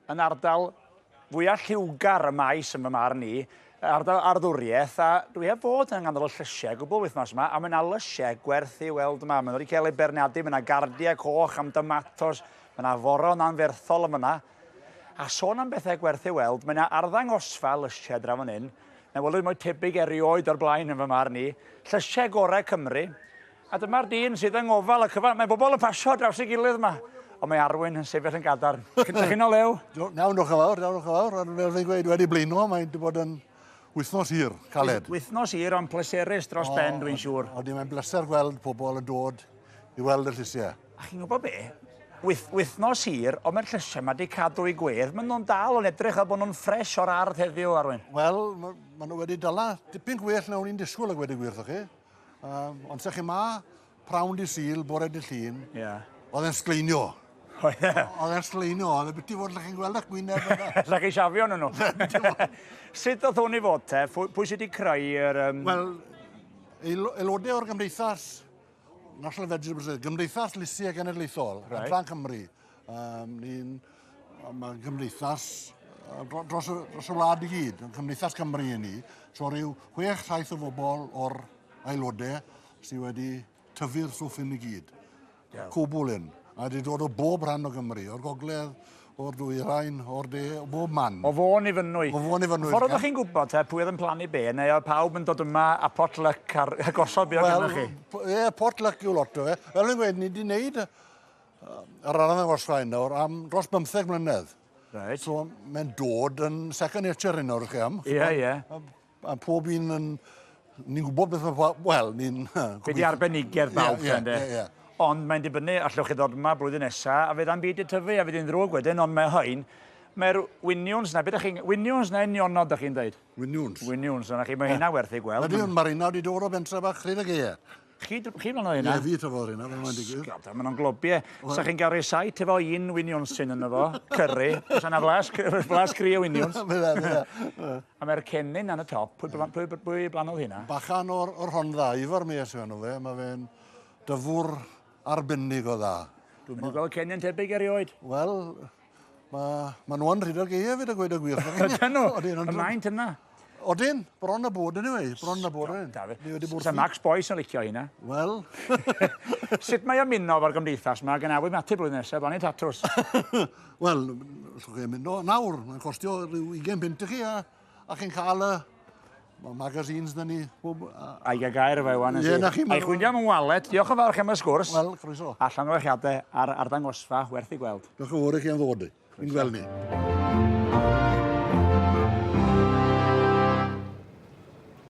yn ardal fwya lliwgar y maes yn fy marn i, ardal arddwriaeth, a dwi heb fod yng nghanol y llysiau gwbl wythnos yma, a mae yna lysiau gwerth i weld yma. Mae nhw wedi cael eu beirniadu, mae yna gardiau coch am domatos, mae yna foron anferthol yn fyna. A sôn am bethau gwerth i weld, mae yna arddangosfa lysiau draw fan hyn, na welwyd mwy tebyg erioed o'r blaen yn fy marn i, llysiau gorau Cymru, A dyma'r dyn sydd yng ngofal y cyfan. Mae bobl yn pasio draws ei gilydd yma. Ond mae Arwyn yn sefyll yn gadarn. Cyntaf chi'n o lew? Do, nawn, diolch yn fawr, diolch yn fawr. Ond fel fi'n gweud, wedi blino, mae wedi bod yn wythnos hir, caled. Wythnos hir, ond pleserus dros ben, dwi'n siŵr. Odi, mae'n bleser gweld pobl yn dod i weld y llysiau. A chi'n gwybod be? Wyth, wythnos hir, ond mae'r llysiau mae wedi cadw i gwedd. Mae nhw'n dal yn edrych fel bod nhw'n ffres o'r ardd heddiw, Arwyn. Wel, mae nhw wedi dala dipyn gwell na o'n i'n disgwyl ag wedi gwir, chi. Um, ond sech chi ma, prawn di syl, bore di llun, yeah. oedd e'n sgleinio. O, ie. Oedd e'n sgleinio, oedd e'n biti fod lle chi'n gweld eich gwyneb yna. Lle chi siafio nhw. Sut oedd hwn i fod te? Pwy sydd wedi creu yr... Um... Wel, aelodau o'r gymdeithas, National Vegetable Gymdeithas Lysiau Genedlaethol, right. Adran Cymru, Um, ni'n mae'n gymdeithas dros, dros y wlad i gyd, yn Cymdeithas Cymru i ni. So rhyw 6-7 o bobl o'r aelodau sydd wedi tyfu'r swff yn i gyd. Yeah. Cwbl un. A wedi dod o bob rhan o Gymru, o'r gogledd, o'r dwy rhain, o'r de, o bob man. O fôn i fynwy. O fôn i fynwy. Ffordd ydych chi'n gwybod te, pwy oedd yn plannu be, neu oedd pawb yn dod yma a potluck ar gosod be oedd well, chi? Ie, yeah, potluck yw lot o fe. Fel yn gweud, ni wedi gwneud Ar ran y Orsgaen nawr am dros 15 mlynedd. Right. So mae'n dod yn second nature hyn nawr i chi am. Ie, yeah, ie. Yeah. A, a pob un yn... Ni'n gwybod beth mae... Wel, ni'n... Be di arbenigedd bawb, yeah, yeah, yeah, yeah. Ond mae'n dibynnu, allwch chi ddod yma blwyddyn nesa, a fydd am byd y tyfu, a fydd yn ddrwg wedyn, ond mae hyn, Mae'r winiwns na, beth ydych chi'n... Winiwns na unionod ydych chi'n dweud? Winiwns. Winiwns, yna chi, mae hynna werth ei gweld. Ydy, mae'r unawd i dod o bentre bach Rhydd y Geie. Chi, chi flan o hynna? Ie, fi trafodd hynna, fe mae'n digwydd. Sgad, mae'n o'n globie. Sa chi'n gael rhesait efo un winiwn sy'n yna fo, cyrru. Os yna flas, flas gri o winiwn. Bydda, bydda. A mae'r cennin yn y top. Pwy, blan, pwy, pwy blanodd hynna? Bachan o'r, or hon dda, Ifor mi eisiau nhw fe. Mae fe'n dyfwr arbennig o dda. Dwi'n mynd i gweld cennin tebyg erioed. Wel, Mae ma nhw yn rhyd o'r geia fyd a gweud y gwir. Ydyn nhw, y maent yna. Odyn, bron y bod yn ei, bron y bod yn ei. Sa Max Boyce yn licio hynna. Wel. Sut mae ymuno fo'r gymdeithas yma gan afwy mati blwyddyn nesaf, fan i tatws? Wel, llwch chi ymuno nawr, mae'n costio rhyw 20 punt i chi a A chi'n cael y Mae magazines na ni. Ai gael gair efo ewan. Ie, na chi. Ai chwyndio am yn walet. Diolch yn fawr chi am y sgwrs. Wel, croeso. A llongyfarchiadau ar arddangosfa werth i gweld. Diolch yn fawr i chi am ddod. Yn gweld ni.